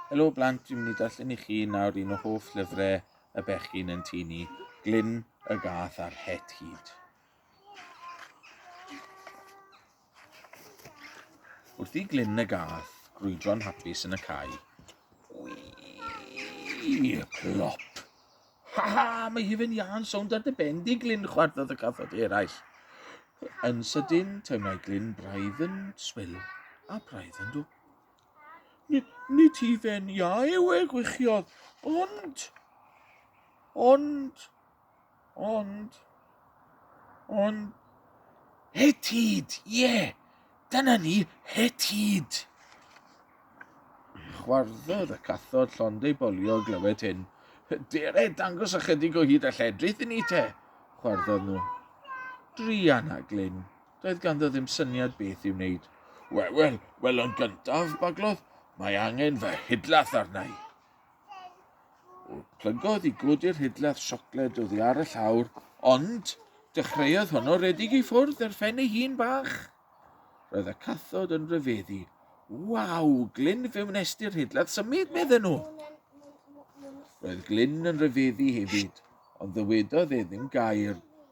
Helo blant, dwi'n mynd i darllen i chi nawr un o hoff llyfrau y bechgyn yn tŷ ni, Glyn y Gath a'r Het Hud. Wrth i glyn y gath grwydro'n hapus yn y cae. Wii! Plop! Ha ha! Mae hyfen iân sownd ar dy ben di, Glyn, chwardodd y cathod eraill. Yn sydyn, teimlai Glyn braidd yn swil a braidd yn dwp. Nid hufen iâ yw e, gwichiodd, ond, ond, ond, ond, hetid, ie, dyna ni, hetid. Chwarddodd y cathod llond ei bolio glywed hyn. Dere, dangos ychydig o hyd a lledrith i ni te, chwarddodd nhw. Drian a Glyn, Doedd ganddo ddim syniad beth i'w wneud. Wel, wel, wel yn gyntaf, baglodd, mae angen fy hidlath arna i. Plygodd i godi'r hidlath siocled oddi ar y llawr, ond dechreuodd honno redeg i ffwrdd ar ffen ei hun bach. Roedd y cathod yn rhyfeddu. Waw, Glyn fe wnesti'r hidlath symud, medden nhw. Roedd Glyn yn rhyfeddu hefyd, ond ddywedodd e ddim gair.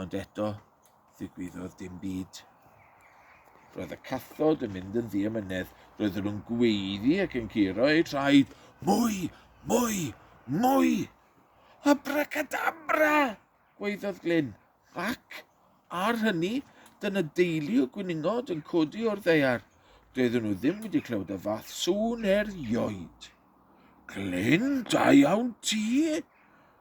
Ond eto, ddigwyddodd dim byd. Roedd y cathod yn mynd yn ddiamynedd. Roedden nhw'n gweiddi ac yn curo eu traed. Mwy! Mwy! Mwy! Abracadabra! gweiddodd Glyn. Ac, ar hynny, dyna deulu o gwyningod yn codi o'r ddeiar. Doedden nhw ddim wedi clywed y fath sŵn erioed. Glyn, da iawn ti!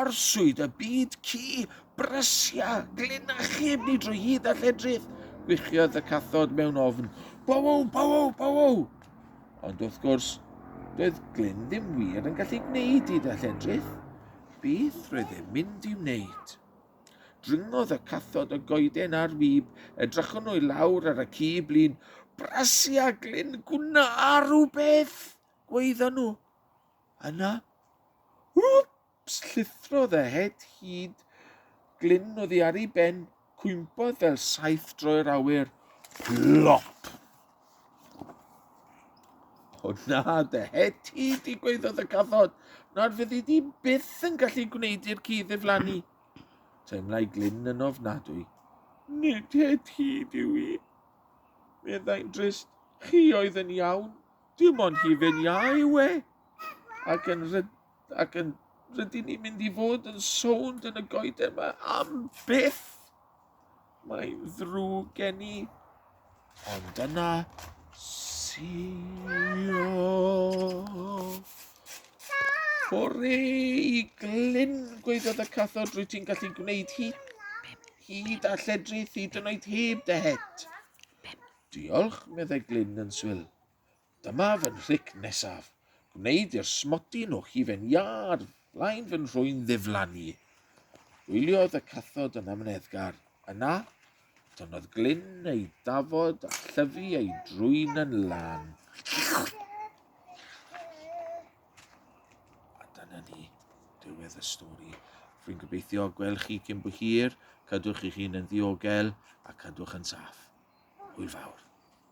Arswyd y byd ci, brysia, glyn a chib ni drwy hyd a lledrith, gwichiodd y cathod mewn ofn. Bowow, bowow, bowow! Ond wrth gwrs, doedd Glyn ddim wir yn gallu gwneud hyd a lledrith. Beth roedd e'n mynd i wneud? Dringodd y cathod y goeden a'r wib, edrychwn nhw i lawr ar y ci blin. Brasi a Glyn, gwna a rhywbeth, gweithon nhw. Yna, wps, llithrodd y het hyd glyn oddi ar ei ben, cwympodd fel saith droi'r awyr, plop! O na, dy het ti, digwyddodd y cathod, nad fyddi di byth yn gallu gwneud i'r ci ddiflannu. Teimlai glyn yn ofnadwy. Nid het hyd yw i, meddai'n drist, chi oedd yn iawn, Dim ond hufen iâ yw e, ac yn, ryd, ac yn rydyn ni'n mynd i fod yn sownd yn y goeden yma am byth. Mae'n ddrwg gen i, ond dyna sio. Hwrê i glyn, gweithiodd y cathod, rwy ti'n gallu gwneud hi. Hyd a lledrith, hyd yn oed heb dy het. Diolch, meddai Glyn yn swil. Dyma fy nhric nesaf. Gwneud i'r smotyn o hufen iâd flaen fy nhrwyn ddiflannu. Gwyliodd y cathod yn amneddgar. Yna, tynnodd Glyn ei dafod a llyfu ei drwyn yn lan. A dyna ni, diwedd y stori. Rwy'n gobeithio gweld chi cyn bo hir, cadwch eich hun yn ddiogel a cadwch yn saff. Hwyl fawr.